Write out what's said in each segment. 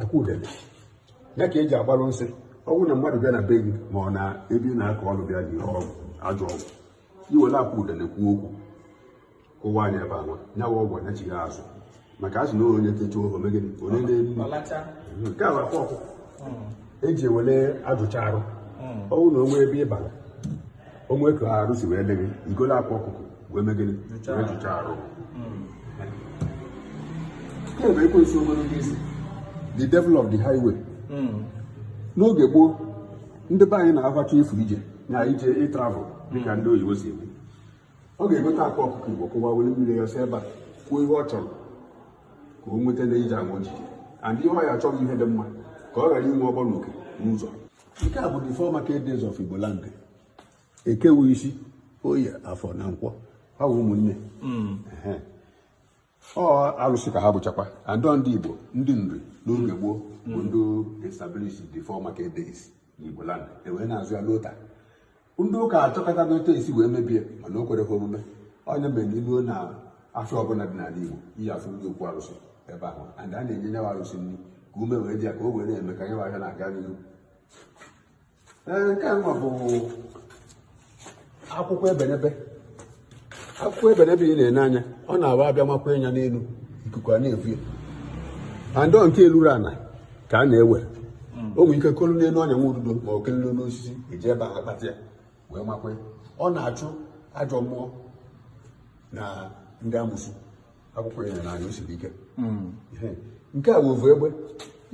akwa udene nya ka eji agbalụ nsị ọ wụ na mmadụ bịa na be gị ma ọ na ebe ị na-akọ ọrụ bịa nie ajọ ọgwụ i were akwa udene kwuo okwu kụwa nya ebe anwa nyawa ọgwụ anachighaa azụ maka a sị na onye techa oho megide onye na-eri nke a bụ akwa ọkụ e ji ewere ajụcha arụ ọ wụ na o nwe ebe ị bara o nwe ka arụ si wee dị gị i golu akwa ọkụkọ wee megịrị wee jụcha arụ nke bụ ekwensu ogologo isi the devil of the highway n'oge gboo ndị be anyị na ha chọọ ịfụ ije na ije ịtravel dịka ndị oyibo si ekwu ọ ga-egote akwa ọkụkọ igbo kụwa were mmiri ya si ebe a kwuo ihe ọ chọrọ ka o nweta na ije anwa o ji and ihe ọ ya achọghị ihe dị mma ka ọ ghara inwe ọghọm na uke n'ụzọ nke a bụ the four market days of igbo land eke wụ isi oye afọ na nkwọ ha wụ ụmụnne Ehe. ọ alụsị ka ha bụchakwa and ndị Igbo ndị Nri n'oge gboo bụ ndị established the four market days n'Igbo land e wee na-azụ ya luo taa ndị ụka achọkata n'otu e si wee mebie mana o kwerọ ha omume ọ nya mere na i luo na afọ ọbụla dị n'ala Igbo ị ya-afụ ndị okwu arụsị ebe ahụ and a na-enye nyawa arụsị nri ka ume wee dị ya ka o wee na-eme ka nyawa ahịa na-aga n'ihu nke anwa bụ akwụkwọ ebenebe akwụkwọ ebenebe ị na-ene anya ọ na-awa abịa wakwa nya n'elu ikuku a na-evu ya and nke elurọ ana ka a na-ewere hmm. o nwere ike kolu n'elu ọnya nwa ududo ma o kelelu n'osisi eji ebe ahụ akpata ya wee makwa ọ na-achụ ajọ mmụọ na ndị amusu akwụkwọ ya na anya o siri ike hmm. nke a bụ ovu egbe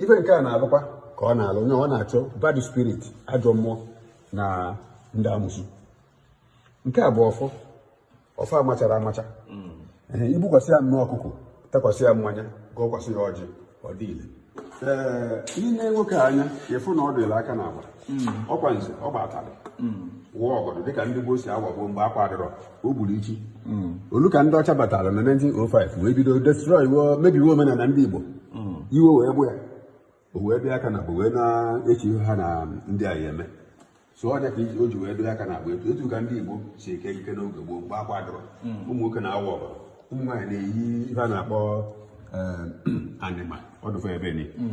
ife nke a na-alụkwa ka ọ na-alụ onye ọ na-achụ bad spirit ajọ mmụọ na ndị amusu nke a bụ ọfọ ọfọ amachara amacha hmm. i gbukwasị ya nnọọ ọkụkọ takwasị ya mmanya gọkwasị ya ọjị ọ dị ile i nee nwoke anya ị fụ na o dolu aka na agba hmm. ọkwa nze ọ gbatalị hmm. waa ọgọdọ dịka ndị gboo si awa gboo mgbe akwa adịrọ o gburu ichi hmm. o lu ka ndị ọcha batara na 1905 wee bido destroy mebiwe omenala ndị Igbo iwe wee gbu ya o wee bịa aka na agba wee na-eche ihe ha na ndị a ya eme so ọ nya ka o ji wee doo aka na agba etu etu ka ndị Igbo si eke ekike n'oge gboo mgbe akwa adịrọ hmm. ụmụ nwoke na-awa ọbara ụmụ nwaanyị na-eyi ihe a na-akpọ eh, anịma ọdụfe ebe ni hmm.